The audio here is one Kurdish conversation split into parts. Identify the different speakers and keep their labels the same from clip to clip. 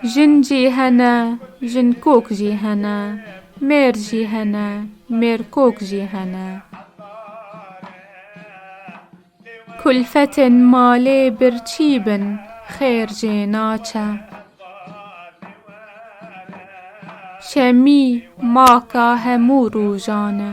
Speaker 1: Jin jî hene, jinkok jî hene, mêr jî hene, mêrkok jî hene. Kulfetên malê birçî bin, xêr jê naçe. Şemî maka hemû rojan e.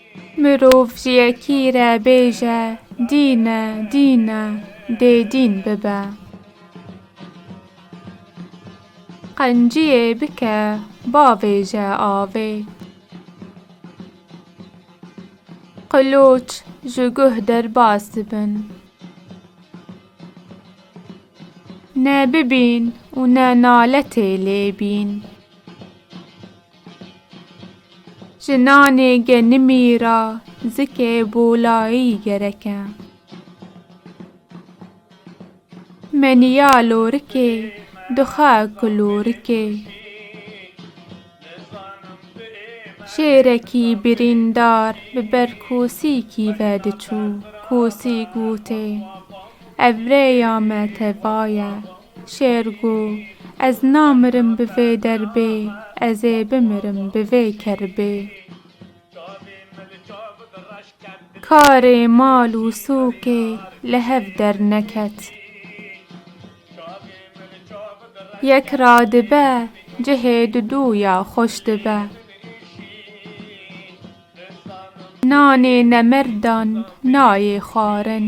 Speaker 1: Mirov ji yekî re bêje dîn e, dîn e, dê dîn bibe. Qenciyê bike bavêje avê. Qiloç ji guh derbas dibin. Ne bibîn û ne naletê lê bîn. Ji nanê genimî ra zikê bolayî gerek e. Meniya lorikê dixe kilorikê. Şêrekî birîndar bi ber kosîkî ve diçû. Kosîk gotê, Ev rêya me teva ye. Şêr go, Ez namirim bi vê derbê, ez ê bimirim bi vê kerbê. Karê mal û sûkê li hev derneket. Yek radibe, cihê didû ya xweş dibe. Nanê nemirdan nayê xwarin.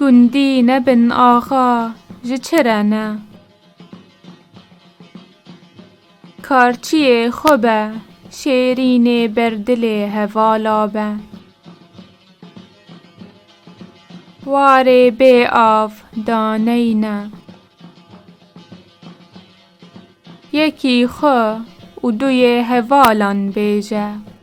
Speaker 1: Gundî nebin axa ji çi re ne. Karçiyê xwe be şêrînê ber dilê hevala be. Warê bê av daney ne. Yekî xwe û duyê hevalan bêje.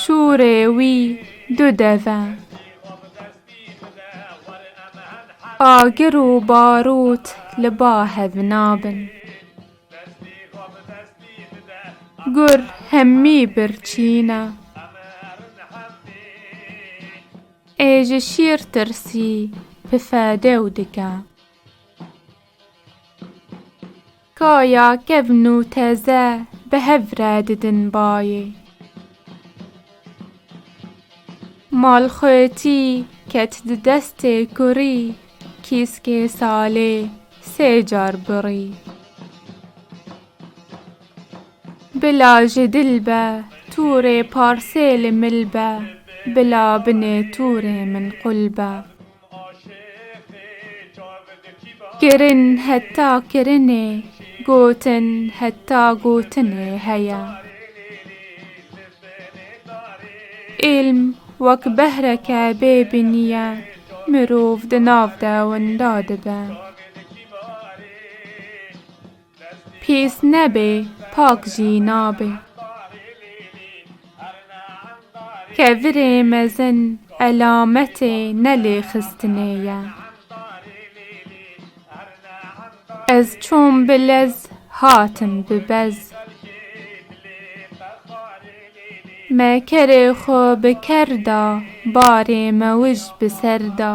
Speaker 1: Şûrê wî du dev e. Agir û barût li ba hev nabin. Gur hemî birçîn e. Ê ji şîr tirsî pife dew dike. Ka ya kevn û teze bi hev re didin bayê. Mal xwetî ket di destê kurî kîskê salê sê car birî. Bila ji dil be tûrê parsê li mil be bila binê tûrê min qul be. Kirin heta kirinê, gotin heta gotinê heye. Îlm wek behreke bê binî ye, mirov di nav de winda dibe. Pîs nebe pak jî nabe. Kevirê mezin elametê nelêxistinê ye. Ez çûm bi lez hatim bi bez. Me kerê xwe bi ker da barê mewij bi ser da.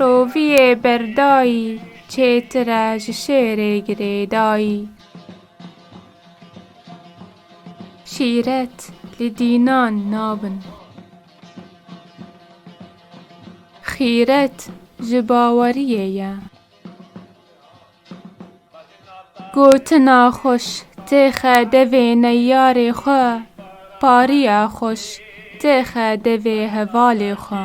Speaker 1: Roviyê berdayî çêtire ji şêrê girêdayî. Şîret li dînan nabin. Xîret ji baweriyê ye. Gotina xweş têxe devê neyarê xwe, pariya xweş têxe devê hevalê xwe.